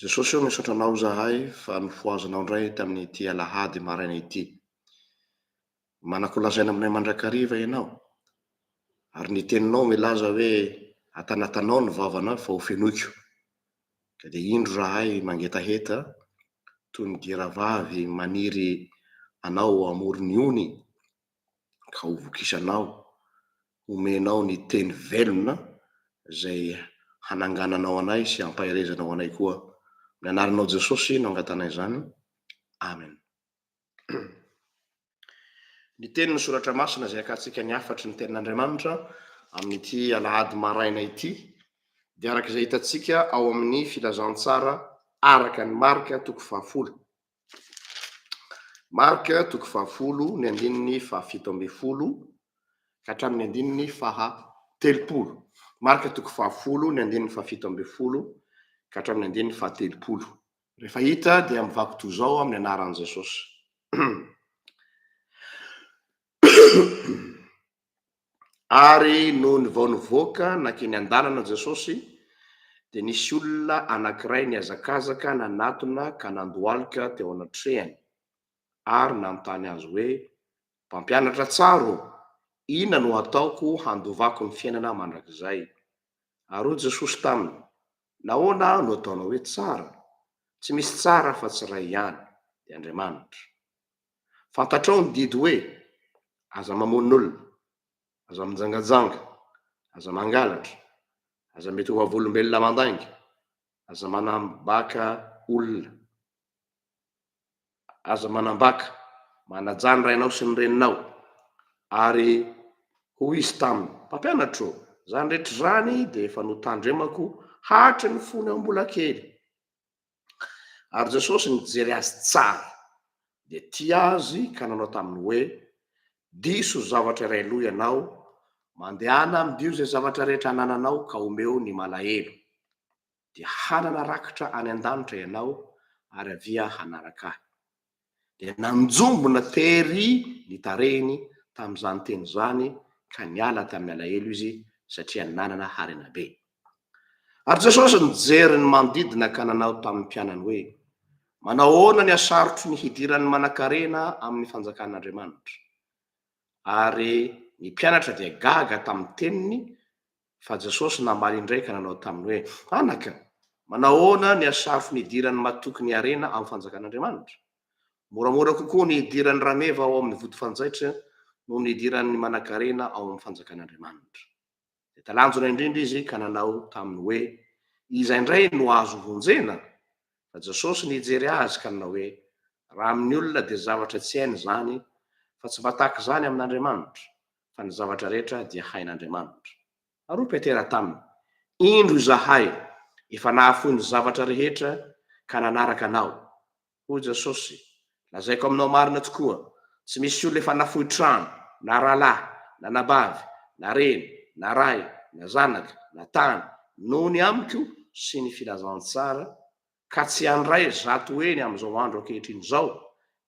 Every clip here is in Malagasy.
Jesosy ô misaotra anao zahay fa nofohazanao indray tamin'ity alahady maraina ity. Manako lazaina aminay mandrakariva ianao ary ny teninao milaza hoe atanatanao ny vavana fa hofenoiko. Ka dia indro rahay mangetaheta toy ny giravavy maniry anao amoron'ny ony. ka ho vokisanao, homenao ny teny velona izay hanangananao anay sy hampaherezanao anay koa. Amin'ny anaranao Jesosy no angatanay izany. Amen. Ny teny ny soratra masina izay akatsika ny hafatry ny tenin'Andriamanitra amin'ity alahady maraina ity dia araka izay hitantsika ao amin'ny filazantsara araka ny Marka toko fahafolo Marc toko fahafolo ny andininy faha fito ambin'ny folo ka hatramin'ny andininy faha telopolo. Marc toko fahafolo ny andininy faha fito ambin'ny folo ka hatramin'ny andininy faha telopolo. Rehefa hita dia mivako toy izao amin'ny anaran'i Jesosy. Ary nony vao nivoaka nankeny an-dalana Jesosy, dia nisy olona anankiray nihazakazaka nanatona ka nandohalika teo anatrehany, ary nanontany Azy hoe, Mpampianatra tsara ô, inona no hataoko handovako ny fiainana mandrakizay? Ary hoy Jesosy taminy, Nahoana no ataonao hoe tsara? Tsy misy tsara afa-tsy iray ihany, dia Andriamanitra. Fantatrao ny didy hoe, Aza mamono olona, aza mijangajanga, aza mangalatra, aza mety ho vavolombelona mandainga, aza manambaka olona, aza manambaka, manajà ny rainao sy ny reninao. Ary hoy izy taminy, Mpampianatra ô, izany rehetra izany dia efa notandremako hatry ny fony aho mbola kely. Ary Jesosy nijery azy tsara, dia tia azy ka nanao taminy hoe, Diso zavatra iray aloha ianao, mandehana amidio izay zavatra rehetra anananao ka omeo ny malahelo, dia hanana rakitra any an-danitra ianao, ary avia hanaraka Ahy. dia nanjombona tery ny tarehiny tamin'izany teny izany ka niala tamin'ny alahelo izy satria nanana harena be. Ary Jesosy nijery ny manodidina ka nanao tamin'ny mpianany hoe, Manao ahoana ny hasarotro ny hidiran'ny manankarena amin'ny fanjakan'Andriamanitra? Ary ny mpianatra dia gaga tamin'ny teniny Fa Jesosy namaly indray ka nanao taminy hoe, Anaka, manahoana ny hasarofy ny hidiran'ny matoky ny harena amin'ny fanjakan'Andriamanitra? Moramora kokoa ny hidiran'ny rameva ao amin'ny vody fanjaitra noho ny hidiran'ny manankarena ao amin'ny fanjakan'Andriamanitra. Dia talanjona indrindra izy ka nanao taminy hoe, Iza indray no azo vonjena? Fa Jesosy nijery azy ka nanao hoe, Raha amin'ny olona dia zavatra tsy hainy izany, fa tsy mba tahaka izany amin'Andriamanitra. fa ny zavatra rehetra dia hain'Andriamanitra. Ary hoy Petera taminy, Indro izahay efa nahafoy ny zavatra rehetra ka nanaraka anao. Hoy Jesosy, Lazaiko aminao marina tokoa, tsy misy olona efa nafoy trano, na rahalahy, na anabavy, na reny, na ray, na zanaka, na tany, noho ny amiko sy ny filazantsara ka tsy handray zato heny amin'izao andro ankehitriny izao,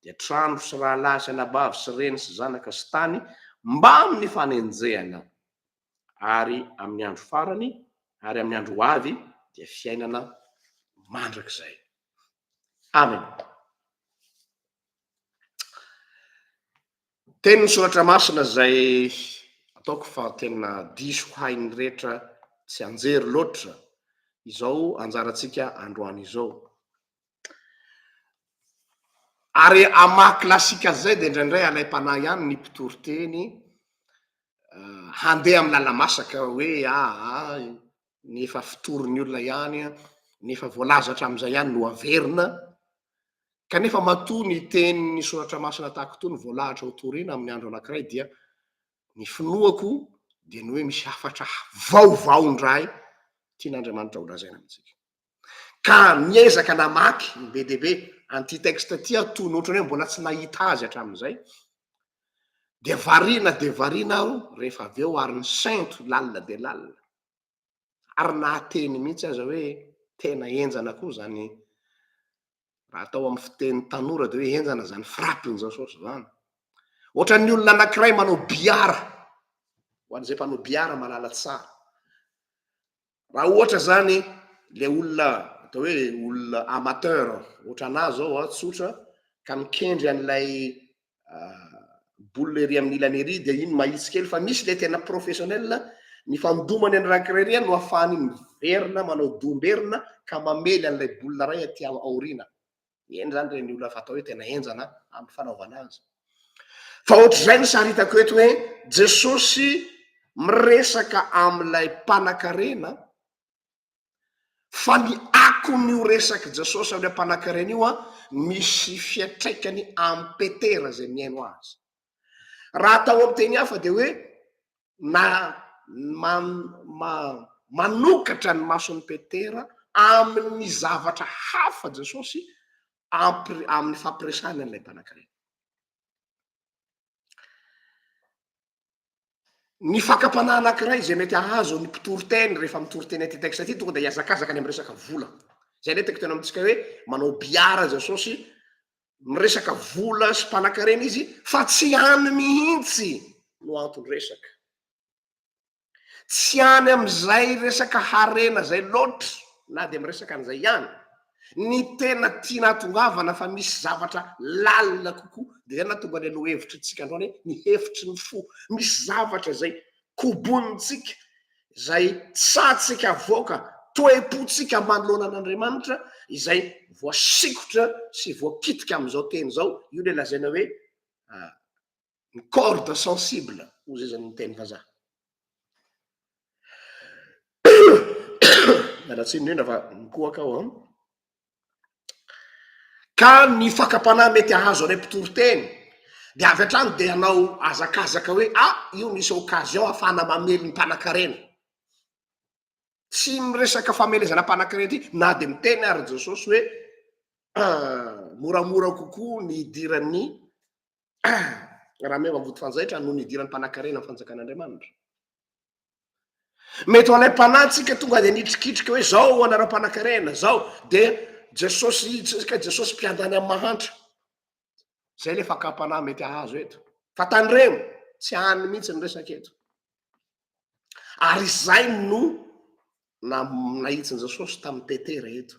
dia trano sy rahalahy sy anabavy sy reny sy zanaka sy tany mbamin'ny fanenjehana, ary amin'ny andro farany ary amin'ny andro ho avy dia fiainana mandrakizay. Amena. Teny ny soratra masina izay ataoko fa tena diso hain'ny rehetra tsianjery loatra izao anjarantsika androany izao. Ary amin'ny maha klasika azy izay dia indraindray alaim-panahy ihany ny mpitory teny handeha amin'ny lala-masaka hoe aa ny efa fotorin'ny olona ihany, ny efa voalaza hatramin'izay ihany no averina, kanefa matoa ny tenin'ny soratra masina tahaka itony voalahatra ho torina amin'ny andro anankiray dia ny finoako dia ny hoe misy hafatra vaovao indray tian'Andriamanitra holazaina amintsika. ka miezaka namaky be dia be an'ity texte ity aho toy ny ohatran'ny hoe mbola tsy nahita azy hatramin'izay, dia variana dia variana aho rehefa avy eo ary nisento lalina dia lalina, ary nahateny mihitsy aza hoe tena henjana koa izany, raha atao amin'ny fiteny tanora dia hoe henjana izany frappe-n'i Jasosy izany, ohatran'ny olona anankiray manao billard, ho an'izay mpanao billard mahalala tsara, Raha ohatra izany ilay olona atao hoe olona amateur ohatra anà izao a, tsotra ka mikendry an'ilay boule ery amin'ny ilany ery dia iny mahitsy kely fa misy ilay tena professionnel ny fandomany an'i Rankirerian no ahafahany miverina manao doha-mberina ka mamely an'ilay boule iray aty aoriana. Eny izany ireny olona fatao hoe tena henjana amin'ny fanaovana azy. Fa ohatr'izay ny sary hitako eto hoe Jesosy miresaka amin'ilay mpanankarena fa ny akon'io resak'i Jesosy amin'ilay mpanankarena io misy fiantraikany amin'i Petera izay mihaino azy. Raha atao amin'ny teny hafa dia hoe na manokatra ny mason'i Petera amin'ny zavatra hafa Jesosy amin'ny fampiresahany an'ilay mpanankarena. Ny fakam-panahy anankiray izay mety hahazo ny mpitory teny rehefa mitory teny ity texte ity tonga dia hiazakazaka any amin'ny resaka vola. Izay ilay tiako hiteny amintsika hoe manao billard Jesosy miresaka vola sy mpanankarena izy fa tsy any mihitsy no anton-dresaka. Tsy any amin'izay resaka harena izay loatra na dia miresaka an'izay ihany. Ny tena tiana atongavana fa misy zavatra lalina kokoa dia izay nahatonga ny lohahevitrintsika androany hoe ny hevitry ny fo. Misy zavatra izay kobonintsika, izay tsahantsika avoaka, toe-pontsika manoloana an'Andriamanitra izay voasikotra sy voakitika amin'izao teny izao, io ilay lazaina hoe ny corde sensible hoy zay zany ny teny vazaha. Miala tsiny indrindra fa mikohaka aho an. Ka ny fakam-panahy mety hahazo anay mpitory teny dia avy hatrany dia hanao hazakazaka hoe a! io misy occasion hahafahana mamely ny mpanankarena. Tsy miresaka famelezana mpanankarena ity na dia miteny ary Jesosy hoe moramora kokoa ny hidiran'ny rameva vody fanjaitra noho ny hidiran'ny mpanankarena ny fanjakan'Andriamanitra. Mety ho alaim-panahy tsika tonga dia nitrikitrika hoe zao anareo mpanakarena zao dia Jesosy tsika Jesosy mpiandany amin'ny mahantra. Zay le fakam-panahy mety ahazo eto. Fa tandremo, tsy any mihitsy ny resaka eto. Ary izay no nahitsin'i Jesosy tamin'i Petera eto.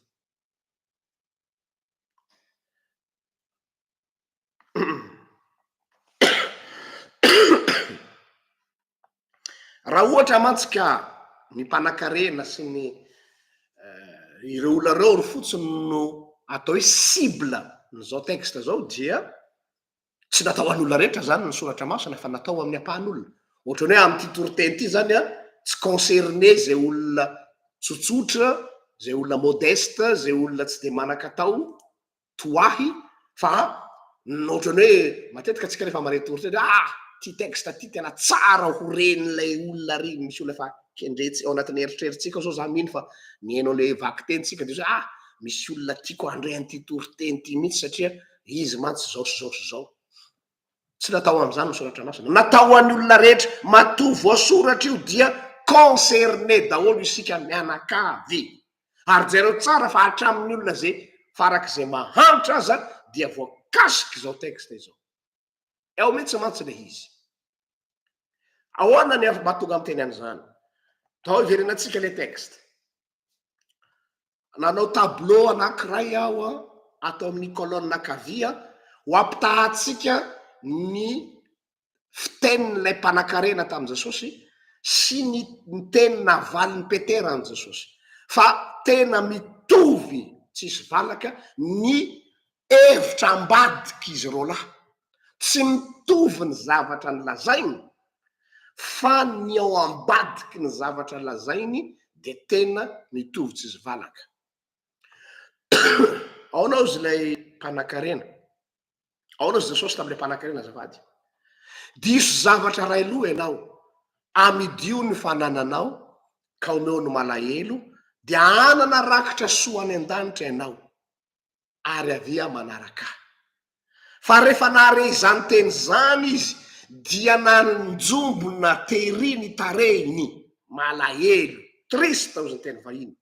Raha ohatra mantsy ka ny mpanakarena sy ny ireo olona ireo ary fotsiny no atao hoe cible n'izao texte izao dia tsy natao ho an'olona rehetra izany ny soratra masina fa natao ho amin'ny ampahan'olona. Ohatran'ny hoe amin'ity toriteny ity izany an, tsy concerné izay olona tsotsotra, izay olona modeste, izay olona tsy dia manan-katao, toa ahy fa ny ohatran'ny hoe matetika antsika rehefa mareto oritra hoe ah ity texte ity tena tsara ho ren'ilay olona ary misy olona efa kendretsy ao anatin'ny eritreritsika zao za mino fa mihaino an'ilay vakitentsika dia hoe ah misy olona tiako handre an'ity toriteny ity mihitsy satria izy mantsy zao sy zao sy zao Tsy natao ho amin'izany ny soratra masina. Natao ho an'ny olona rehetra. Matoa voasoratra io dia concerné daholo isika mianakavy. Ary jereo tsara fa hatramin'ny olona izay farak'izay mahantra aza dia voakasik'izao texte izao. Ao mihitsy mantsy ilay izy. Ahoana ny mahatonga amin'ny teny an'izany? Tao iverenantsika ilay texte. Nanao tableau anankiray aho ato amin'ny colonne ankavia ho ampitahantsika ny fitenin'ilay mpanankarena tamin'i Jesosy sy ny teny navalin'i Petera an'i Jesosy fa tena mitovy tsisy valaka ny Hevitra ambadika izy roalahy. Tsy mitovy ny zavatra nolazainy fa ny ao ambadiky ny zavatra lazainy dia tena mitovy tsy izy valaka. Aona ozy ilay mpanakarena? Aona ozy Jesosy tamin'ilay mpanakarena azafady? Diso zavatra iray loha ianao, amidio ny fanananao ka omeo ny malahelo dia hanana rakitra soa any an-danitra ianao. ary avia manaraka ahy. Fa rehefa nahare izany teny izany izy, dia nanjombona tery ny tarehiny, malahelo, triste hoy ny teny vahiny,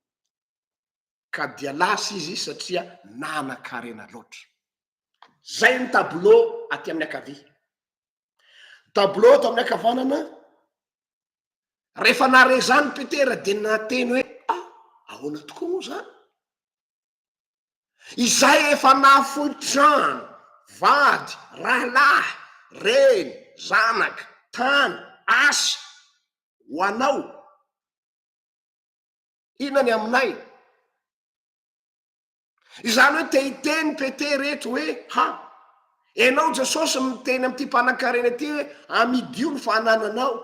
ka dia lasa izy satria nanan-karena loatra. Izay ny tableau aty amin'ny ankavia. Tableau ato amin'ny ankavanana, rehefa nahare izany Petera dia nateny hoe, ah, ahoana tokoa moa izany? Izay efa nahafoy trano, vady, rahalahy, reny, zanaka, tany, asa, ho anao, inona ny aminay? Izany hoe te hiteny Petera eto hoe, ha, ianao Jesosy miteny amin'ity mpanankarena ity hoe, amidio ny fanananao.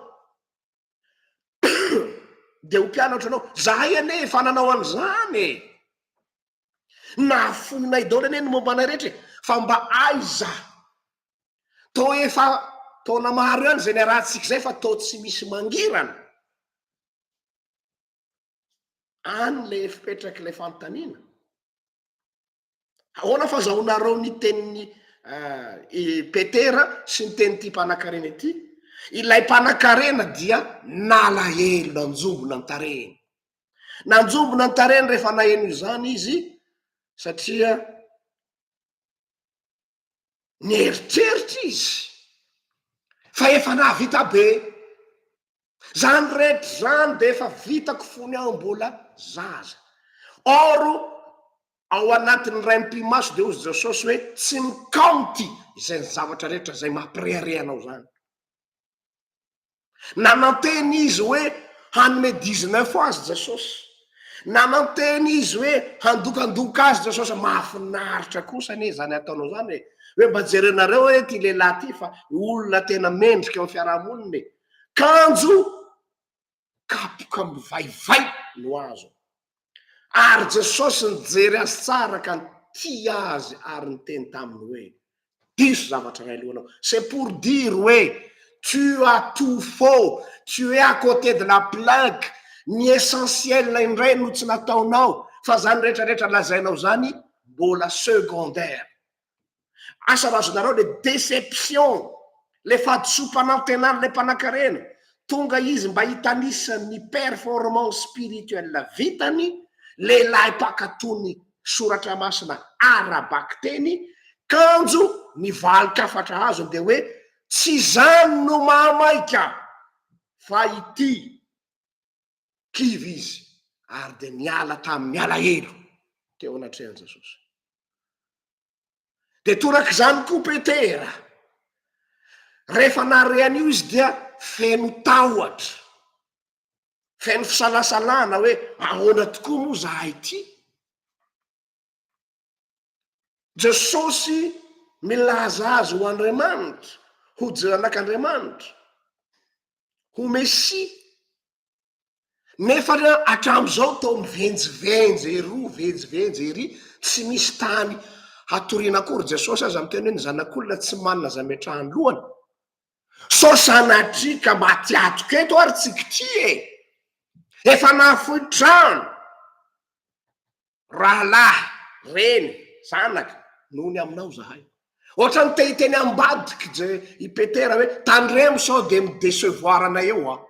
dia ho mpianatra anao zahay anie efa nanao an'izany e nahafoinay daholo anie ny momba anay rehetra e fa mba aiza to efa taona maro ihany izay niarahantsika izay fa to tsy misy mangirana any le fipetraky ilay fanontaniana Ahoana fa zahoanareo ny tenin'i Petera sy ny tenin'ity mpanankarena ity? Ilay mpanankarena dia nalahelo, nanjombona ny tarehiny. Nanjombona ny tarehiny rehefa naheno izany izy satria Nieritreritra izy fa efa nahavita be. Zany rehetra zany de efa vitako fony aho mbola zaza. Or ao anatin'ny raim-pimaso de hozy Jesosy hoe tsy mikaonty izay zavatra rehetra izay mampirehareha anao zany. Nanantena izy hoe hanome dix-neuf ho azy Jesosy. Nanantena izy hoe handokandoka azy Jesosy. Mahafinaritra kosa anie izany ataonao izany e! Hoe mba jerenareo hoe ity lehilahy ity fa olona tena mendrika eo amin'ny fiarahamonina e! Kanjo kapoka mivaivay no azony. Ary Jesosy nijery azy tsara ka nitia azy ary niteny taminy hoe, Diso zavatra iray alohanao. C'est pour dire hoe tu as tout faux, tu es à côté de la plaque, ny essentiel indray no tsy nataonao fa izany rehetra rehetra lazainao izany mbola secondaire. Asa raha azonareo le deception le fahadisoam-panantenana le mpanakarena tonga izy mba hitanisa ny performance spirituelle vitany lehilahy mpakato ny soratra masina ara-bakiteny kanjo ny valin-kafatra azony dia hoe tsy izany no mahamaika fa ity kivy izy ary dia niala tamin'ny alahelo teo anatrehan'i Jesosy. Dia torak'izany koa Petera. Rehefa nahare an'io izy dia feno tahotra, feno fisalasalana hoe ahoana tokoa moa zahay ity? Jesosy milaza azy ho Andriamanitra, ho Jnanak'Andriamanitra, ho Mesia. Nefa hatramin'izao toa mivenjivenjy eroa, venjivenjy ery, tsy misy tany hatoriana akory. Jesosy aza miteny hoe ny Zanak'olona tsy manana izay ametrahany lohany. Sao sanatria ka maty atoka eto ary tsikitria e! Efa nahafoy trano. Rahalahy, reny, zanaka, noho ny aminao zahay. Ohatran'ny te hiteny ambadik'i Je, i Petera hoe, tandremo sao dia mi-decevoir anay eo aho.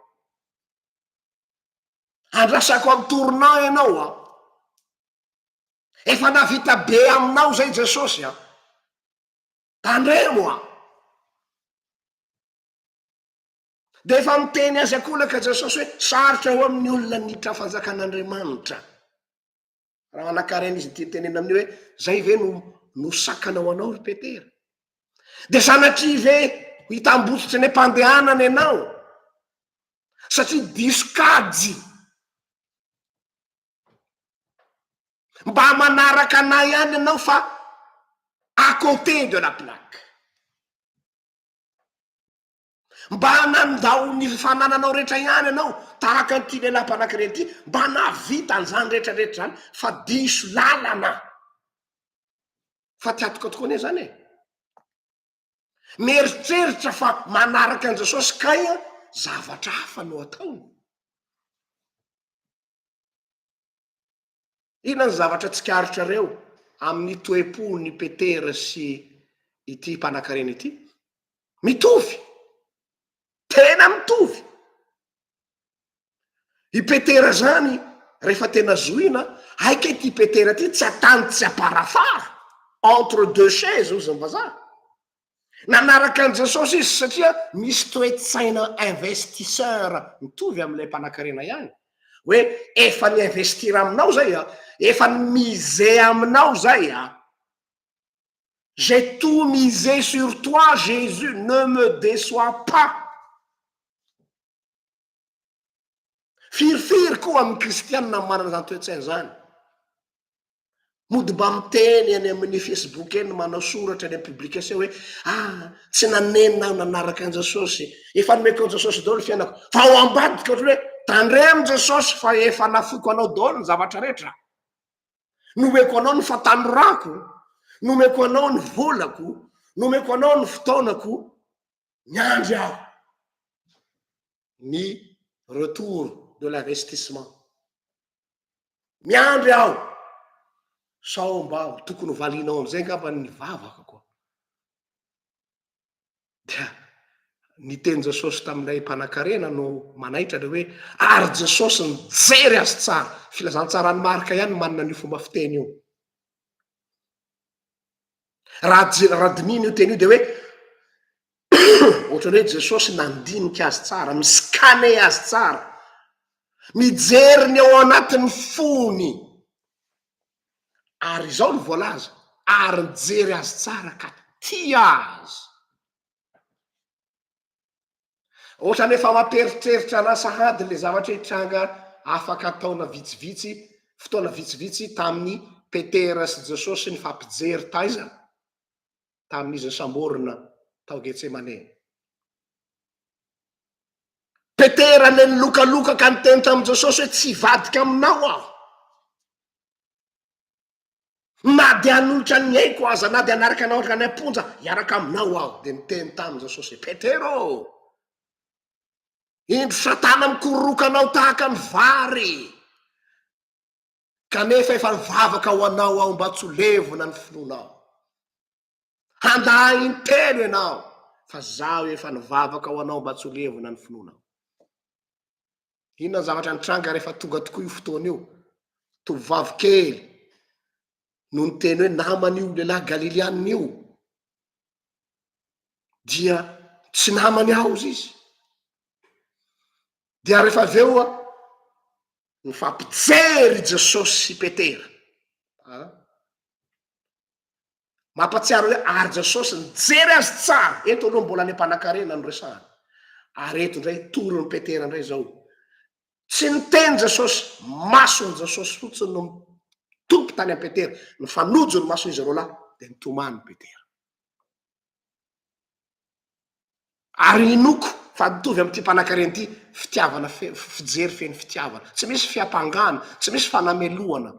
Andrasako amin'ny tournant ianao aho. Efa navita be aminao izay Jesosy a. Tandremo aho. Dia efa miteny azy an-kolaka Jesosy hoe, Sarotra ho amin'ny olona ny hiditra ny fanjakan'Andriamanitra. Raha manankarena izy ity tenena amin'io hoe, Izay ve no no sakana ho anao ry Petera? Dia sanatria ve ho hitambotsotra ny am-pandehanana ianao? Satria diso kajy. Mba manaraka anay ihany ianao fa à côté de la plaque. Mba nandao ny fanananao rehetra ihany ianao, tahaka an'ity lehilahy mpanakirery ity, mba nahavita an'izany rehetrarehetra izany, fa diso lalana. Fa tsy hatoka tokoa anie izany e! Mieritreritra fa manaraka an'i Jesosy kay an, zavatra hafa no ataony. Inona ny zavatra tsikaritrareo amin'ny toe-pon'i Petera sy ity mpanankarena ity? Mitovy! Tena mitovy! I Petera izany, rehefa tena zohina, aika ity Petera ity tsy atany tsy aparafara, entre deux chaises, hoy izany vazaha. Nanaraka an'i Jesosy izy satria misy toe-tsaina investisseur mitovy amin'ilay mpanan-karena ihany. Hoe efa ni-investir aminao izay a, efa ni-miser aminao izay a. J'ai tout misé sur toi Jésus, ne me déçois pas. Firifiry koa amin'ny kristiana manana izany toe-tsaina izany. Mody mba miteny eny amin'ny Facebook eny, manao soratra eny amin'ny publication hoe ah tsy nanenina aho nanaraka an'i Jesosy, efa nomeko an'i Jesosy daholo ny fiainako. Fa ao ambadika ohatran'ny hoe tandremo Jesosy fa efa nafoiko anao daholo ny zavatra rehetra. Nomeko anao ny fahatanorako, nomeko anao ny volako, nomeko anao ny fotoanako, miandry aho ny retour de l'investissement. Miandry aho sao mba tokony valinao amizay ngamba ny vavako koa. Dia ny teny Jesosy tamin'ilay mpanakarena no manaitra le hoe ary Jesosy nijery azy tsara. Filazantsaran'i Marka ihany manana ny fomba fiteny io. raha dinihina io teny io dia hoe ohatran'ny hoe Jesosy nandinika azy tsara, mi-scanner azy tsara, mijery ny ao anatin'ny fony, ary izao no voalaza, ary nijery azy tsara ka tia azy. Otrany efa mampieritreritra anah sahady le zavatra hitranga afaka taona vitsivitsy fotoana vitsivitsy taminy Petera sy Jesosy nifampijery taiza? Taminizy nisamborina tao Getsemane. Petera le nilokaloka ka niteny taminy Jesosy hoe tsy hivadika aminao aho. Na dia hanolotra ny aiko aza, na dia hanaraka anao hankany am-ponja hiaraka aminao aho. Dia niteny tamin'i Jesosy hoe, Petera ô, indro Satana mikororoka anao tahaka ny vary, kanefa efa nivavaka ho anao aho mba tsy ho levona ny finoanao. Handaha intelo ianao fa zaho efa nivavaka ho anao mba tsy ho levona ny finoanao. Inona ny zavatra nitranga rehefa tonga tokoa io fotoana io? Tovovavy kely no niteny hoe naman'io lehilahy Galilianina io dia tsy namany ao izy. Dia rehefa avy eo nifampijery Jesosy sy Petera. Ah. Mampatsiaro hoe ary Jesosy nijery azy tsara, eto aloha mbola le mpanakarena no resahana, ary eto indray torin'i Petera indray izao, tsy niteny Jesosy, mason'i Jesosy fotsiny no mitopy tany amin'i Petera, nifanojo ny mason'izy roalahy dia nitomany Petera. Ary inoako fa mitovy amin'ity mpanankarena ity, fitiavana feno fijery feno fitiavana. Tsy misy fiampangana, tsy misy fanamelohana.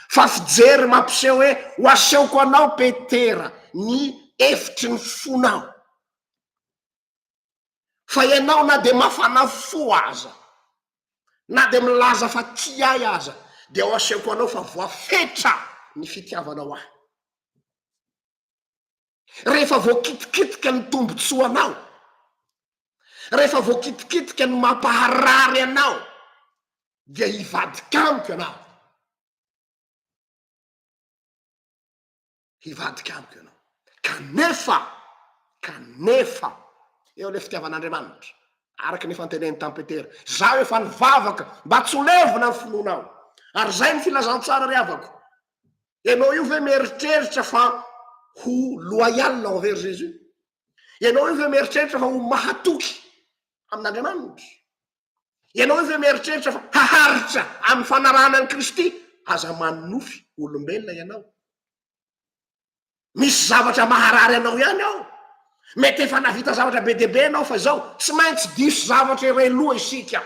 Fa fijery mampiseho hoe ho asehoko anao Petera ny efitry ny fonao. Fa ianao na dia mafana fo aza, na dia milaza fa tia ahy aza dia ho asehoko anao fa voafetra ny fitiavanao ahy. Rehefa voakitikitika ny tombontsoanao, rehefa voakitikitika ny mampaharary anao, dia hivadika amiko ianao. Hivadika amiko ianao. Kanefa, kanefa, eo ilay fitiavan'Andriamanitra, araka ny efa noteneniny tamin'i Petera, izaho efa nivavaka mba tsy ho levona ny finoanao, ary izay ny filazantsara ry havako, Ianao io ve mieritreritra fa ho loyal envers Jésus? Ianao io ve mieritreritra fa ho mahatoky amin'Andriamanitra? Ianao io ve mieritreritra fa haharitra amin'ny fanarahana an'i Kristy? Aza manonofy olombelona ianao. Misy zavatra maharary anao ihany ao. Mety efa navita zavatra be dia be ianao fa izao, tsy maintsy diso zavatra iray loha isika.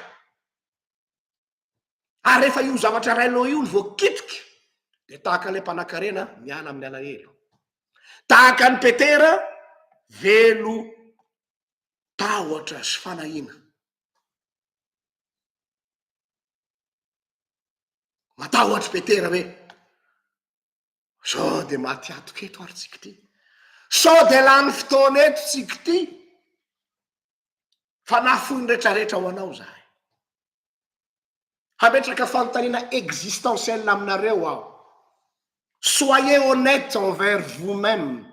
ary rehefa io zavatra rainao io no voakitika dia tahaka ilay mpanakarena miala amin'ny alahelo, tahaka an'i Petera velo tahotra sy fanahiana. Matahotra i Petera hoe Sao dia maty hatoka eto ary tsika ity? Sao dia lany fotoana eto tsika ity? Fa nafoy ny retraretra ho anao zahay. Hametraka fanontaniana existentielle aminareo aho. Soyez honnête envers vous-même.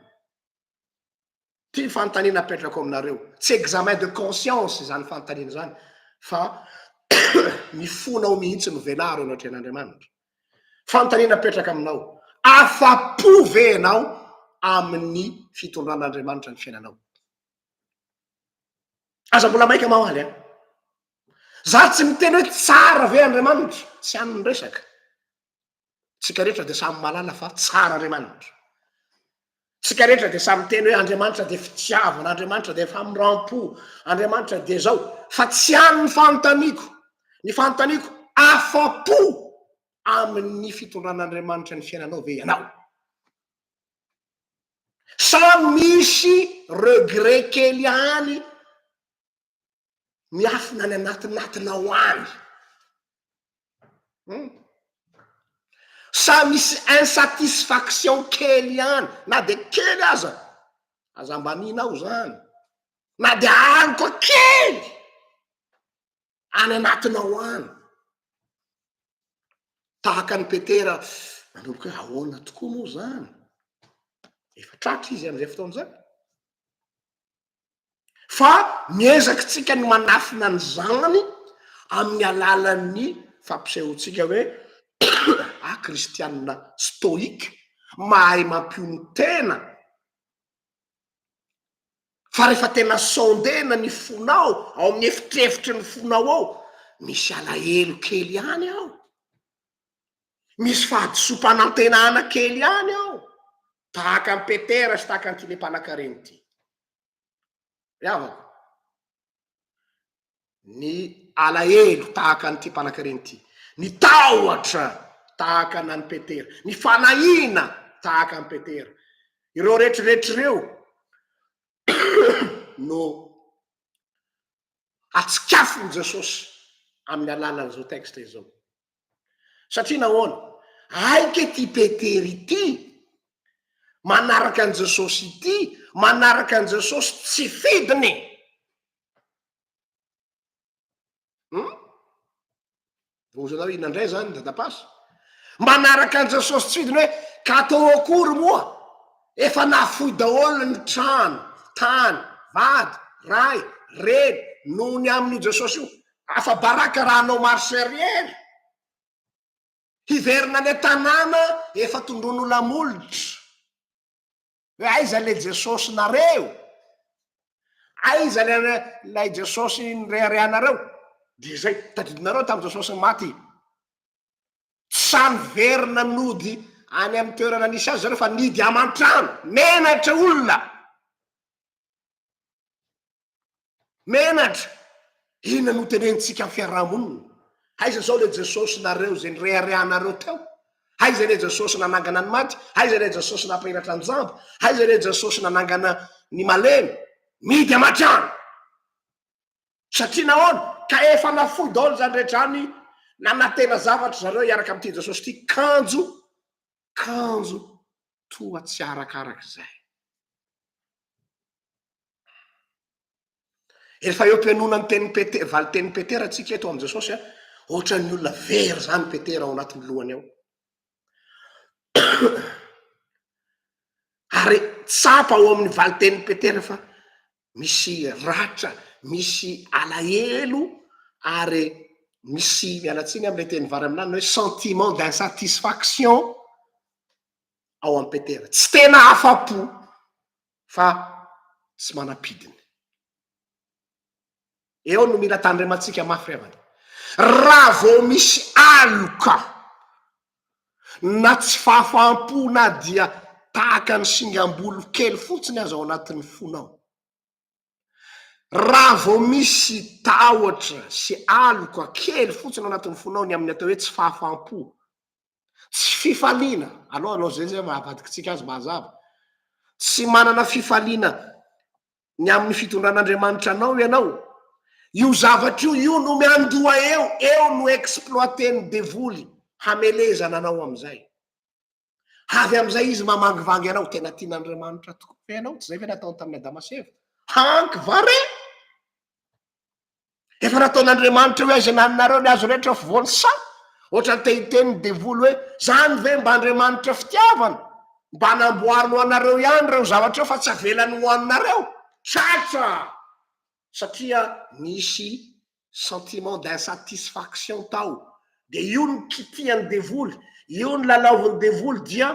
Ty fanontaniana apetrako aminareo. Tsy examen de conscience izany fanontaniana izany fa ny fonao mihitsy no velaro eo anatrehan'Andriamanitra. Fanontaniana apetraka aminao. Afa-po ve ianao amin'ny fitondran'Andriamanitra ny fiainanao? Aza mbola maika mahaly an. Za tsy miteny hoe tsara ve Andriamanitra, tsy an'ny resaka. Tsika rehetra dia samy malala fa tsara Andriamanitra. Tsika rehetra dia samy miteny hoe Andriamanitra dia fitiavana, Andriamanitra dia famirampo, Andriamanitra dia zao. Fa tsy any ny fanontaniako, ny fanontaniako afa-po amin'ny fitondran'Andriamanitra ny fiainanao ve ianao? Sa misy regret kely any miafina any anatinatinao any um! Sa misy insatisfaction kely ihany na de kely aza, aza ambaninao zany, na de aroka kely any anatinao any, tahaka an'i Petera manomboka hoe ahoana tokoa moa zany, efa tratra izy am'izay fotoana zay. fa miezaktsika ny manafina ny zanany amin'ny alalan'ny fampisehoantsika hoe ah kristianina stoïque mahay mampihono tena fa rehefa tena sondena ny fonao ao amin'ny efitrefitry ny fonao ao misy alahelo kely ihany ao misy fahadisoam-panantenana kely ihany ao Tahaka an'i Petera sy tahaka an'ity le mpanan-karena ity. Ry havako, ny alahelo tahaka an'ity mpanan-karena ity, ny tahotra tahaka anan'i Petera, ny fanahiana tahaka an'i Petera, ireo rehetrarehetra ireo no atsikafon'i Jesosy amin'ny alalan'izao texte izao. Satria nahoana? Hay kay ity Petera ity manaraka an'i Jesosy ity, manaraka an'i Jesosy tsy fidiny e! Hum? Vohozanareo inona indray izany dadapasy? Manaraka an'i Jesosy tsy fidiny hoe ka atao akory moa? Efa nafoy daholo ny trano, tany, vady, ray, reny noho ny amin'io Jesosy io. Afa-baraka raha hanao marche arrière, hiverina any an-tanàna efa tondroin'olona hamolotra, hoe aiza ilay Jesosinareo? Aiza ilay ilay Jesosy nireharehanareo? Dia izay, tadidinareo tamin'ny Jesosy maty, sa niverina nody any amin'ny toerana nisy azy zareo fa nidy aman-trano, menatra olona. Menatra! Inona no tenenintsika amin'ny fiaraha-monina? Aiza izao ilay Jesosy nareo izay nireharehanareo teo? Aiza ilay Jesosy nanangana ny maty? Aiza ilay Jesosy nampahiratra an-jamba? Aiza ilay Jesosy nanangana ny malemy? Midy aman-tsy any! Satria nahoana? Ka efa nafoy daholo izany rehetra izany, nanantena zavatra zareo hiaraka amin'ity Jesosy ity, kanjo kanjo toa tsy arakaraka izay. Efa eo am-pihainoana ny tenin'i Petera, valin-tenin'i Petera tsika eto amin'i Jesosy a, ohatran'ny olona very izany Petera ao anatin'ny lohany ao. Ary tsapa ao amin'ny valin-tenin'i Petera fa misy ratra, misy alahelo ary misy, miala tsiny amin'ilay teny vary amin'ny lanona hoe sentiment d'insatisfaction ao amin'i Petera. Tsy tena afa-po fa tsy manam-pidiny. Eo no mila tandremantsika mafy ry havana. Raha vao misy aloka na tsy fahafaham-po na dia tahaka ny singam-bolo kely fotsiny aza ao anatin'ny fonao, raha vao misy tahotra sy aloka kely fotsiny ao anatin'ny fonao ny amin'ny atao hoe tsy fahafaham-po, tsy fifaliana, aleo hanao izay izay maha avadiky antsika azy mazava, tsy manana fifaliana ny amin'ny fitondran'Andriamanitra anao ianao, io zavatra io io no miandoha eo, eo no exploiter-n'ny devoly hamelezana anao amin'izay. Avy amin'izay izy mamangivangy anao, tena tian'Andriamanitra tokoa ve ianao, tsy izay ve nataony tamin'i Adama sy Eva? Hanky va re? Efa nataon'Andriamanitra hoe aiza naninareo ny azo rehetra voan'ny saha? Ohatra ny tehiteny ny devoly hoe zany ve mba Andriamanitra fitiavana? Mba namboariny ho anareo ihany ireo zavatra fa tsy avelany ho haninareo? Tratra! Satria nisy sentiment d'insatisfaction tao. Dia io no kitihan'ny devoly, io no lalaovin'ny devoly dia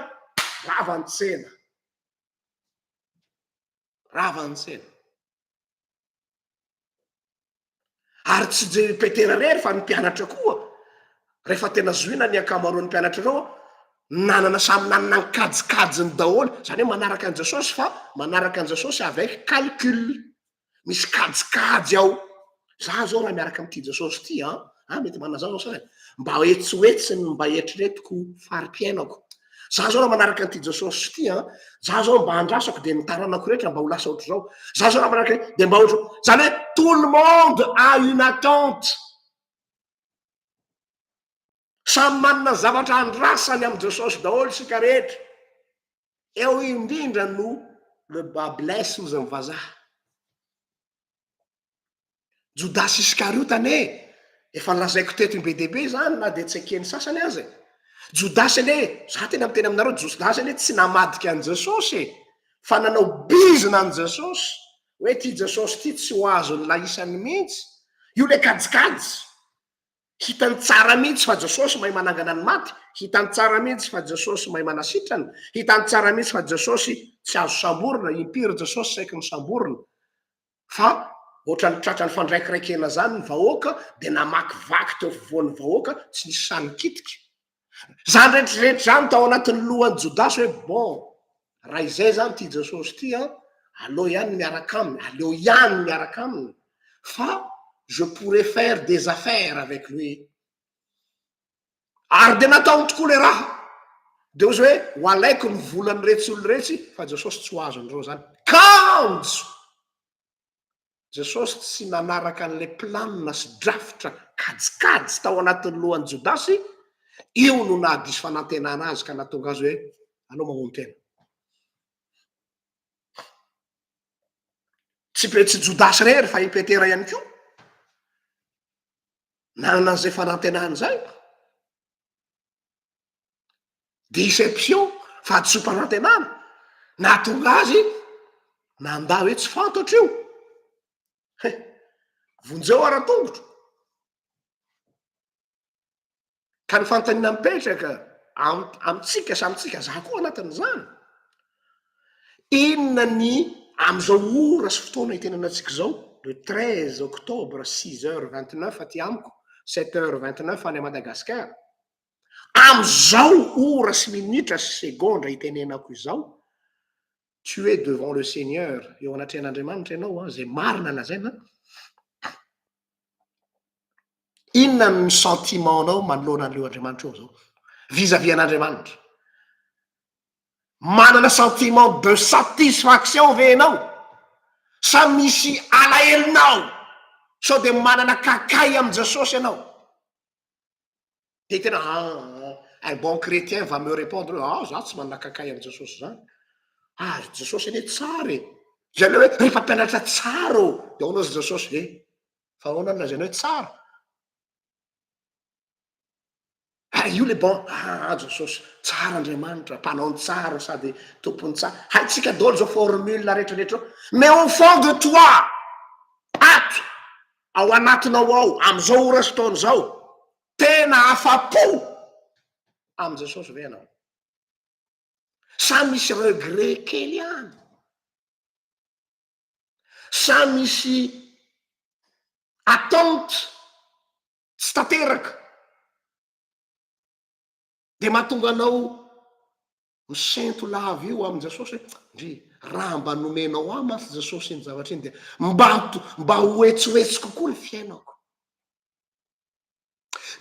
rava ny tsena. Rava ny tsena. Ary tsy dia i Petera irery fa ny mpianatra koa rehefa tena zohina ny ankamaroan'ny mpianatra ireo nanana samy nanana ny kajikajiny daholo, izany hoe manaraka an'i Jesosy fa manaraka an'i Jesosy avec calcul, misy kajikajy ao, za zao raha miaraka amin'ity Jesosy ity an, ah mety manana zany sasany mba etsy ho etsy ny mba eritreretiko fari-piainako za zao raha manaraka an'ity Jesosy ity an za zao mba andrasako dia ny taranako rehetra mba ho lasa ohatr'izao za zao raha manaraka dia mba ohatro zany hoe tout le monde a une attente samy manana zavatra andrasany amin'i Jesosy daholo isika rehetra eo indrindra no le bas blesse hozy ny vazaha Jodasy Iskariota anie efa nolazaiko teto be dia be izany na dia tsy eken'ny sasany aza e! Jodasy anie, izaho tena miteny aminareo, Jodasy anie tsy namadika an'i Jesosy e! Fa nanao bizina an'i Jesosy, hoe ity Jesosy ity tsy ho azon'ny lahisany mihitsy. Io ilay kajikajy. Hitany tsara mihitsy fa Jesosy mahay manangana ny maty, hitany tsara mihitsy fa Jesosy mahay manasitrana, hitany tsara mihitsy fa Jesosy tsy azo samborina, impiry Jesosy saiky misamborina. fa ohatrany tratran'ny fandraikiraikena zany ny vahoaka de namakivaky teo afovoan'ny vahoaka tsy nisy sahy nikitika, zany rehetrarehetra zany tao anatin'ny lohan'i Jodasy hoe bon raha izay zany ity Jesosy ity an aleo ihany ny miaraka aminy, aleo ihany ny miaraka aminy fa je pourrais faire des affaires avec lui. Ary dia nataony tokoa ilay raha. Dia hozy hoe, ho alaiko ny volan'iretsy olona iretsy, fa Jesosy tsy ho azon'ireo izany. Kanjo! Jesosy tsy nanaraka an'ilay planina sy drafitra kajikajy tao anatin'ny lohan'i Jodasy, io no nahadiso fanantenana azy ka nahatonga azy hoe, aleo mamono tena. Tsy Pe- tsy Jodasy irery fa i Petera ihany koa. nanana an'izay fanantenana izay deception fahadisoam-panantenana nahatonga azy nandà hoe tsy fantatro io he vonjeo ara-tongotro Ka ny fanontaniana mipetraka amintsika sy amintsika, za koa anatin'izany, inona ny amin'izao ora sy fotoana itenanantsika izao, le treize octobre six heures vingt neuf aty amiko, sept heures vingt neuf any Madagascar, amin'izao ora sy minitra sy segondra itenenako izao, tu es devant le Seigneur, eo anatrehan'Andriamanitra ianao an, izay marina lazaina an, Inona ny sentiment nao manoloana an'ireo Andriamanitra ireo zao? Vis à vis an'Andriamanitra. Manana sentiment de satisfaction ve enao? Sa misy alahelonao? Sao de manana kakay amin'i Jesosy enao? dia tena ah un bon chrétien va me repondre ah za tsy manakakay an'i jesosy zany ah ry jesosy anie tsara e zay le hoe ry mpampianatra tsara ô de ahoana ry jesosy e fa ahoana ny lazaina hoe tsara ah io le bon ah jesosy tsara andriamanitra mpanao ny tsara sady tompony tsara haintsika daholo zao formule rehetrarehetra eo mais au fond de toi ato ao anatinao ao amin'izao ora sy taona izao? Tena afa-po amin'i Jesosy ve ianao? Sa misy regret kely any? Sa misy attente tsy tanteraka dia mahatonga anao Misento lava io amin'i Jesosy hoe, Ndry, raha mba nomenao ahy mantsy Jesosy iny zavatra iny dia mba mba hoetsoetsy kokoa ny fiainako.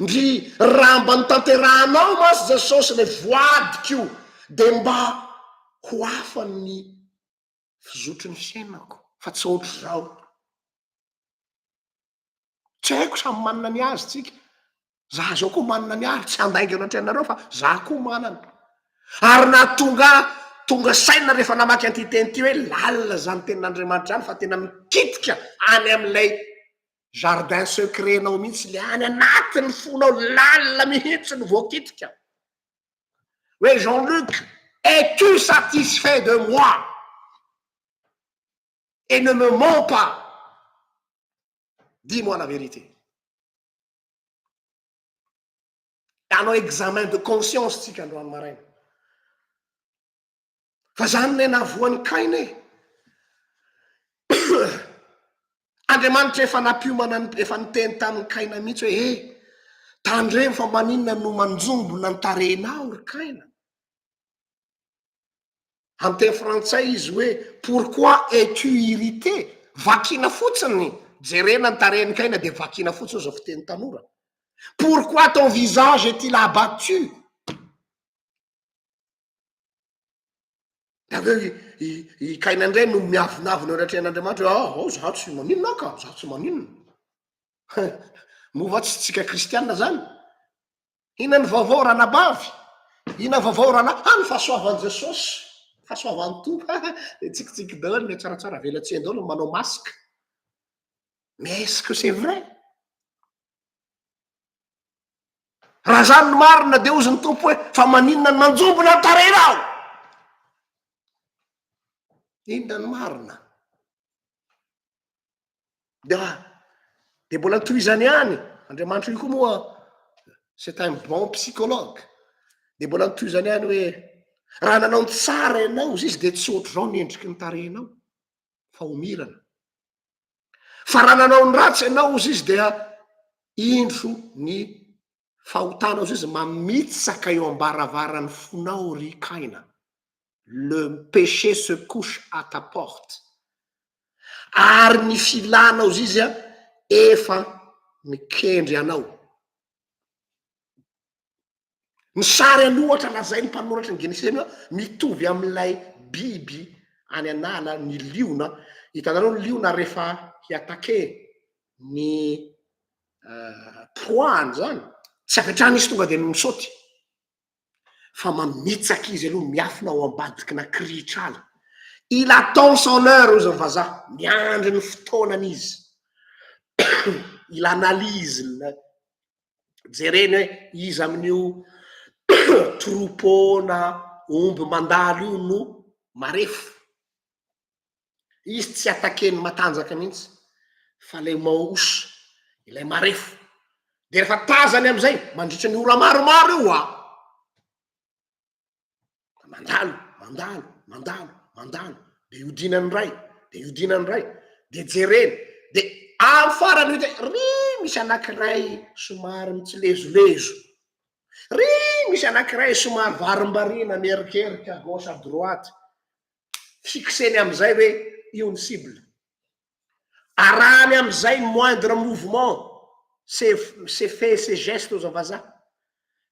Ndry, raha mba notanterahanao mantsy Jesosy ilay voadiko dia mba ho hafa ny fizotry ny fiainako fa tsy ohatr'izao. Tsy haiko samy manana ny azy tsika. Za zao koa manana ny ahy, tsy handaingana ohatry anareo fa za koa manana. Ary nahatonga ahy tonga saina rehefa namaky an'ity teny ity hoe lalina izany tenin'Andriamanitra izany fa tena mikitika any amin'ilay jardin secret-nao mihitsy, ilay any anatin'ny fonao lalina mihitsy no voakitika. Hoe Jean Luc, es-tu satisfait de moi? et ne me mens pas dis moi la vérité hanao examen de conscience tsika androany maraina fa zany ne navoan'ny kaina e Andriamanitra efa nampiomana efa niteny tamin'ny kaina mihitsy hoe e tandremo fa maninona no manjombona ny tarehinao ry kaina Amin'ny teny frantsay izy hoe pourquoi es tu irrité? Vakina fotsiny, jerena ny tarehin'i Kaina dia vakina fotsiny izao fiteny tanora. Pourquoi ton visage est-il abattu? Dia avy eo i i i Kaina indray no miavonavona eo anatrehan'Andriamanitra hoe aoh aoh izaho tsy maninona aho ka, izaho tsy maninona. Moa va tsy isika kristiana izany? Ina ny vaovao ranabavy? Ina vaovao rana ah ny fahasoavan'i Jesosy, fahasoavan'ny Tompo ah dia tsikitsiky daholo ilay tsaratsara velatsihy daholo ny manao masque mais est-ce que c'est vrai? Raha zany ny marina dia hozy ny Tompo hoe fa maninona no manjombona ny tarehinao? Inona ny marina? dia dia mbola tohizany ihany andriamanitro io koa moa c'est un bon psychologue dia mbola nitohizany ihany hoe raha nanao ny tsara ianao izy dia tsy ohatr'izao ny endriky ny tarehinao fa homirana fa raha nanao ny ratsy ianao izy izy dia indro ny Fahotanao zay izy mamitsaka eo ambaravaran'ny fonao ry Kaina. Le péché se couche à ta porte. Ary ny filanao zay izy efa mikendry anao. Ny sary aloha ohatra lazain'ny mpanoratra ny Genesisy aloha mitovy amin'ilay biby any an'ala, ny liona. Hitanareo ny liona rehefa hi-attaquer ny proie an'izany, tsy avy hatrany izy tonga dia misaoty, fa mamitsaka izy aloha miafina ao ambadikina kirihitr'ala. Il attend son heure hoy izany vazaha, miandry ny fotoanany izy. Il analyse ny jereny hoe iza amin'io troupeau na omby mandalo io no marefo. Izy tsy attaquer-ny matanjaka mihitsy fa ilay mauche, ilay marefo. Dia rehefa tazany amin'izay mandritra ny ora maromaro eo ho'a. Mandalo, mandalo, mandalo, mandalo. Dia iodinany indray, dia iodinany indray, dia jereny. Dia amin'ny farany io dia ry misy anankiray somary mitsilezolezo, ry misy anankiray somary varimbariana mierikerika à gauche à droite. fixer-ny amin'izay hoe io ny cible. Arahany amin'izay ny moindre mouvement, ces ces faits, ces gestes hoy izao vazaha.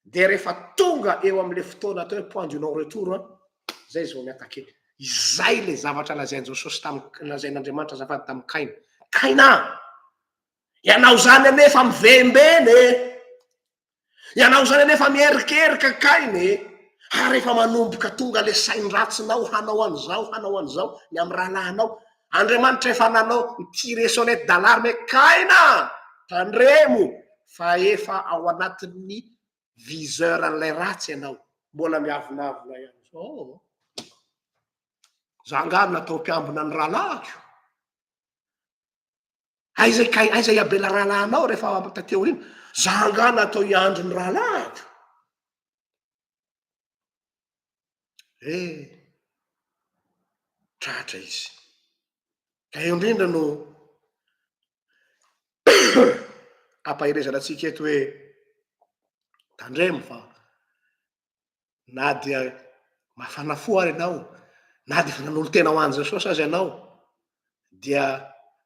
Dia rehefa tonga eo amin'ilay fotoana atao hoe point du non retour an, izay izy vao mi-attaquer. Izay ilay zavatra lazain'i Jesosy tamin'i, lazain'Andriamanitra azafady tamin'i Kaina. Kaina a! Ianao izany anefa mivembena e! Ianao izany anefa miherikerika kainy e, ary efa manomboka tonga ilay sain-dratsinao hanao an'izao, hanao an'izao ny amin'ny rahalahinao. Andriamanitra efa nanao nitire sonnette d'alarme hoe kaina a! tandremo fa efa ao anatin'ny viseur an'ilay ratsy ianao. Mbola miavonavona ihany izao. Za angaha natao mpiambina ny rahalahiko? Aiza kay aiza i Abela rahalahinao rehefa tateo iny? Za angaha natao hiandry ny rahalahiko? Eh, tratra izy. Ka eo indrindra no ampaherezana antsika eto hoe tandremo fa na dia mafana fo ary ianao, na dia efa nanolo-tena ho an'i Jesosy aza ianao, dia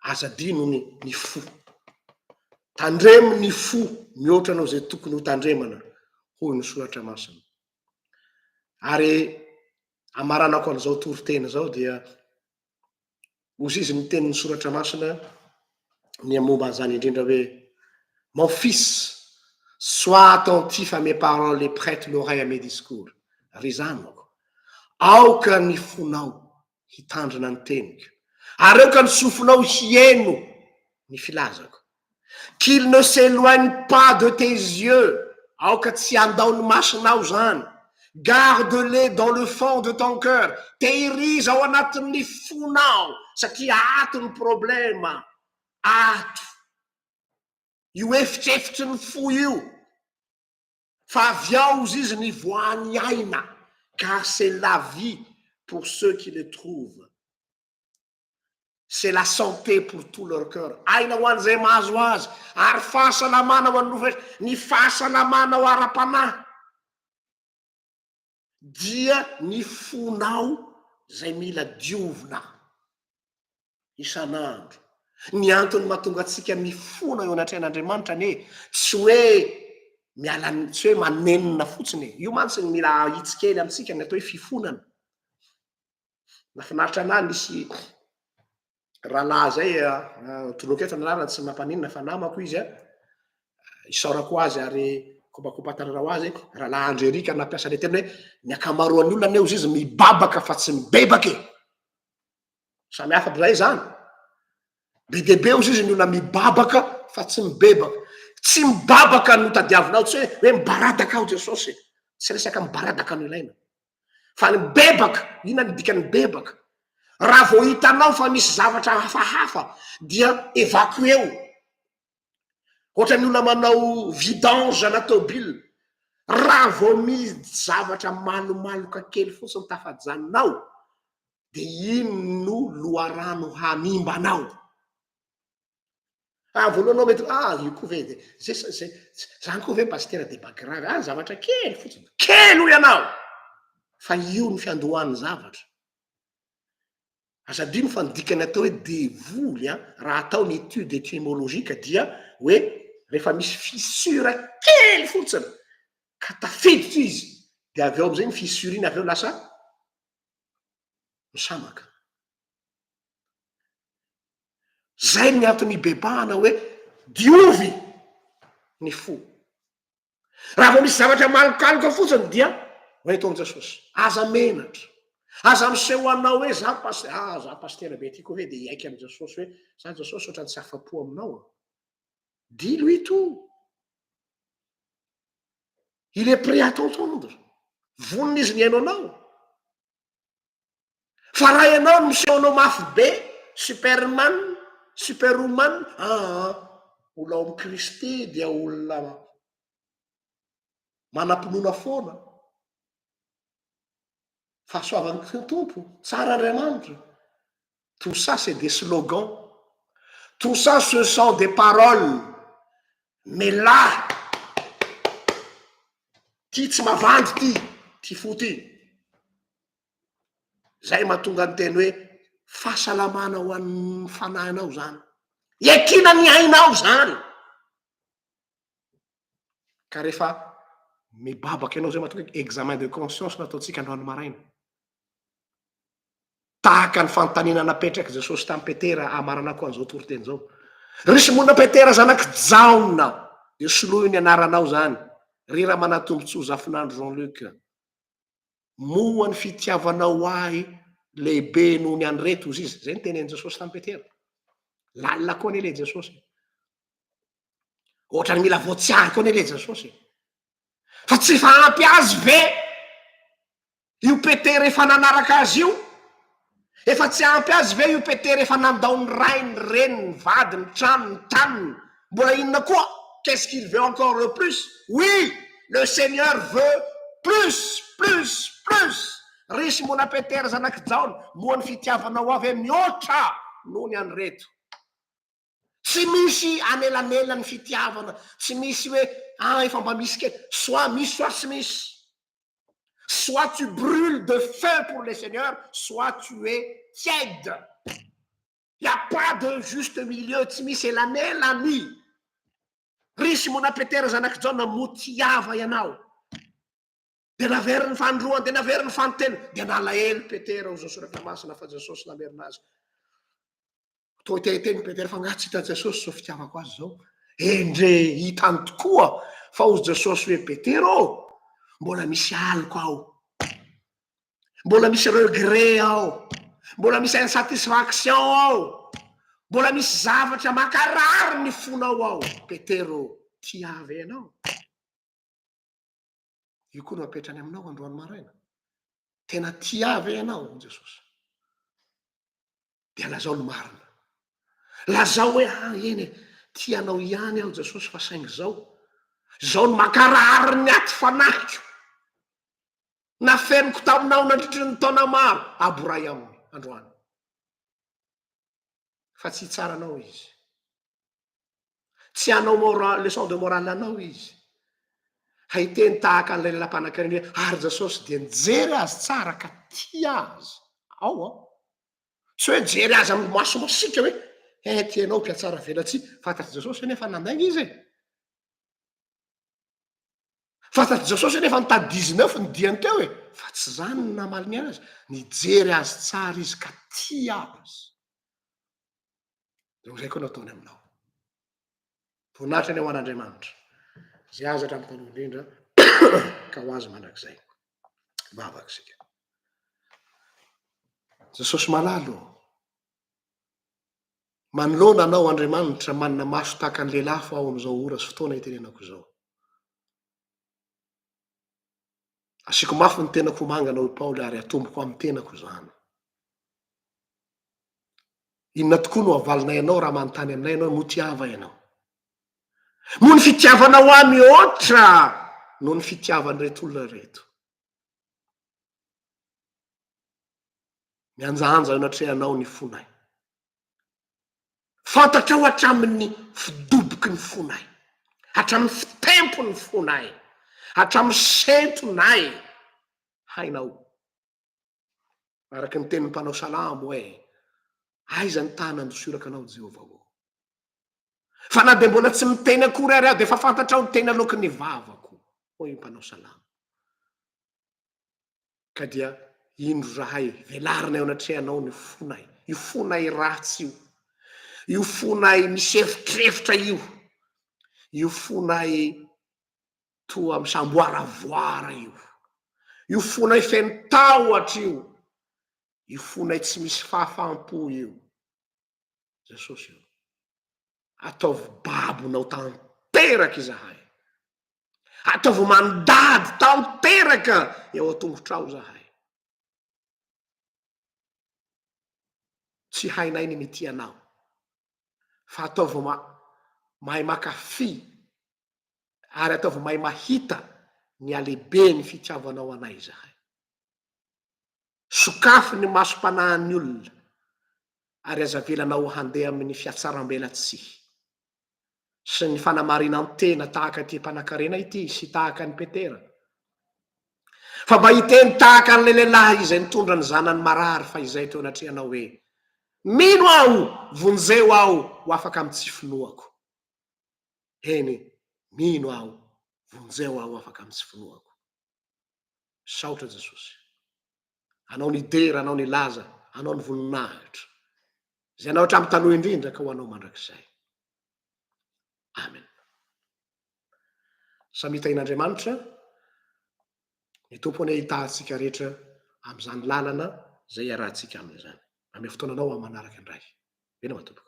aza adino ny ny fo. Tandremo ny fo mihoatra noho izay tokony ho tandremana, hoy ny soratra masina. Ary hamaranako an'izao toriteny izao dia Hozizy ny tenin'ny Soratra Masina ny momba an'izany indrindra hoe, Mon fils, sois attentif à mes paroles et prête l'oreille à mes discours. Ry zanako, aoka ny fonao hitandrina ny teniko, ary aoka ny sofinao hihaino ny filazako. Qu'il ne s'éloigne pas de tes yeux, aoka tsy handao ny masonao izany, garde-les dans le fond de ton cœur, tehiriza ao anatin'ny fonao satria ato ny problème, ato io efitrefitry ny fo io, fa avy ao hozy izy ny voan'ny aina, car c'est la vie pour ceux qui le trouvent. c'est la santé pour tout leur coeur, aina ho an'izay mahazo azy, ary fahasalamana ho an'ny roa fetra, ny fahasalamana ao ara-panahy dia ny fonao izay mila diovina isan'andro, ny antony mahatonga antsika mifona eo anatrehan'Andriamanitra anie tsy hoe miala ny tsy hoe manenina fotsiny e, io mantsy ny mila ahitsy kely amintsika ny atao hoe fifonana, Nafinaritra anahy nisy rahalahy zay toloky eto ny anarany tsy mampaninona fa namako izy a, isaorako ho azy ary kopakopan-tanana ho azy, rahalahy Andry Eric nampiasa le teny hoe ny ankamaroan'ny olona anie ozy izy mibabaka fa tsy mibebaka e, samy hafa aby zay zany, be dia be ozy izy ny olona mibabaka fa tsy mibebaka, tsy mibabaka no tadiavinao tsy hoe hoe mibaradaka aho Jesosy e, tsy resaka mibaradaka no ilaina, Fa ny bebaka, inona ny dikan'ny bebaka? Raha vao hitanao fa misy zavatra hafahafa dia evacuer-o. Ohatran'ny olona manao vidange ana tôbila, raha vao misy zavatra malomaloka kely fotsiny tafajanona ao dia iny no loharano hanimba anao. Ah, voalohany mety ah io koa ve dia zay zay zany koa ve pasitera dia mba grave ah zavatra kely fotsiny kely hoy ianao fa io ny fiandohan'ny zavatra aza adino fa ny dikany atao hoe devoly a ah, raha atao ny étude étymologique dia hoe rehefa misy fissure kely fotsiny ka tafiditra izy dia avy eo amin'izay ny fissure iny avy eo lasa misamaka Zay ny antony ibebahana hoe diovy ny fo. Raha vao misy zavatra malokaloka fotsiny dia ho eto amin'i Jesosy. Aza menatra. Aza miseho ho anao hoe za pas ah za pasitera be ty koa ve dia hiaiky amin'i Jesosy hoe za Jesosy ohatran'ny tsy afa-po aminao an. Dilo ito. Il est prêt à t'entendre. Vonona izy ny hihaino anao. Fa raha ianao no miseho anao mafy be, Superman, Superwoman, aa mbola ao amin'i Kristy dia olona manam-pinoana foana. Fahasoavan'ny Tompo, tsara Andriamanitra. Tout ça c'est des slogans, tout ça ce sont des paroles mais là ty tsy mavandy ty ty fo ty, zay mahatonga ny teny hoe fahasalamana ho an'ny fanahinao zany, iakina ny ainao zany ka rehefa mibabaka ianao zay mahatonga hoe examen de conscience no ataontsika androany maraina. Tahaka ny fanontaniana napetrak'i Jesosy tamin'i Petera, hamaranako an'izao toriteny izao. Ry Simona Petera zanak'i Jaona, dia soloy ny anaranao izany, ry Ramanatombotsoa Zafinandro Jean Luc. Moa ny fitiavanao ahy lehibe noho ny an'ireto, hoy izy. Izay ny tenin'i Jesosy tamin'i Petera. Lalina koa anie ilay Jesosy. Ohatrany mila voatsiary koa anie ilay Jesosy. Fa tsy efa ampy azy ve Io Petera efa nanaraka azy io? Efa tsy ampy azy ve io Petera efa nandao ny rainy, ny reniny, ny vadiny, ny tranony, ny taniny? Mbola inona koa? Qu'est-ce qu'il veut encore le plus? Oui! Le Seigneur veut plus! Plus! Plus! Ry Simona Petera zanak'i Jaona, moa ny fitiavanao Ahy ve mihoatra noho ny an'ireto? Tsy misy anelanelan'ny fitiavana, tsy misy hoe ah efa mba misy kely, soit misy soit tsy misy, soit tu brule de feu pour le Seigneur soit tu es tiède, il n'y a pas de juste milieu, tsy misy elanelany, ry Simona Petera zanak'i Jaona moa tiava ianao. Dia naveriny ny fanindroany, dia naveriny ny faninteniny, dia nalahelo i Petera ho izao soratra masina fa Jesosy namerina azy. Toa te hiteny i Petera fa nga tsy hita Jesosy izao fitiavako azy izao. Endre hitany tokoa fa ho Jesosy hoe Petera ô, mbola misy aloka ao, mbola misy regret ao, mbola misy insatisfaction ao, mbola misy zavatra mankarary ny fonao ao, Petera ô, tiave ianao. Io koa no apetrany aminao androany maraina. Tena tia ve ianao an'i Jesosy? Dia lazao ny marina. Lazao hoe ah, eny e, tia anao ihany aho Jesosy fa saingy izao. Izao no mankarary ny aty fanahiko. Nafeniko taminao nandritry ny taona maro, aboray aminy androany. Fa tsy hitsaranao izy. Tsy hanao moral, leçon de morale anao izy. Haiteny tahaka an'ilay lalam-panankarena hoe ary Jesosy dia nijery azy tsara ka tia azy. Ao ao. Tsy hoe jery azy amin'ny maso masika hoe eh tianao mpiatsara velatsihy. Fantatr'i Jesosy hoe nefa nandainga izy e. Fantatr'i Jesosy hoe nefa nitady 19 ny diany teo e. Fa tsy izany no namaly ny azy. Nijery azy tsara izy ka tia azy. dia ho izay koa no ataony aminao. Voninahitra ny ho an'Andriamanitra, izay azy hatramin'ny taloha indrindra, ka ho azy mandrakizay. Vavaka isika. Jesosy malalo, manoloana anao Andriamanitra manana maso tahaka ny lelafo aho amin'izao ora sy fotoana itenenako izao. Asiako mafy ny tenako ho mangana, hoy Paoly, ary atomboko amin'ny tenako izany. Inona tokoa no havalinay anao raha manontany aminay ianao, moa tia ahy va ianao? Moa ny fitiavanao ahy mihoatra noho ny fitiavan'ireto olona ireto? Mihanjahanja eo anatrehanao ny fonay. Fantatrao hatramin'ny fidoboky ny fonay, hatramin'ny fitempon'ny fonay, hatramin'ny sentonay, hainao. Araka ny tenin'ny mpanao salamo hoe, Aiza ny tana andosorako anao, Jehovah ô? Fa na dia mbola tsy miteny akory ary aho, dia efa fantatrao ny teny aloaky ny vavako, hoy ny mpanao salamo. Ka dia indro izahay velarina eo anatrehanao ny fonay, io fonay ratsy io, io fonay misy erotreritra io, io fonay toa misamboaravoara io, io fonay feno tahotra io, io fonay tsy misy fahafaham-po io. Jesosy ô! Ataovy babonao tanteraka izahay. Ataovy mandady tanteraka eo an-tongotrao izahay. Tsy hainay ny mitia anao, fa ataovy mahay makafy ary ataovy mahay mahita ny halehiben'ny fitiavanao anay izahay. Sokafy ny masom-panahin'ny olona ary aza avelanao handeha amin'ny fiatsarambelatsihy sy ny fanamarinan-tena tahaka ity mpanankarena ity sy tahaka an'i Petera. Fa mba hiteny tahaka an'ilay lehilahy izay nitondra ny zanany marary fahizay teo anatrehanao hoe, Mino aho, vonjeo aho ho afaka amin'ny tsy finoako. Eny, mino aho, vonjeo aho ho afaka amin'ny tsy finoako. Misaotra Jesosy. Anao ny dera, anao ny laza, anao ny voninahitra. Izay anao hatramin'ny taloha indrindra ka ho anao mandrakizay. Amen. Samy hitahin'Andriamanitra ny tompo anie hitahantsika rehetra amin'izany lalana izay iarahantsika aminy izany. Ame fotoananao amin'ny manaraka indray. Eny matomboko.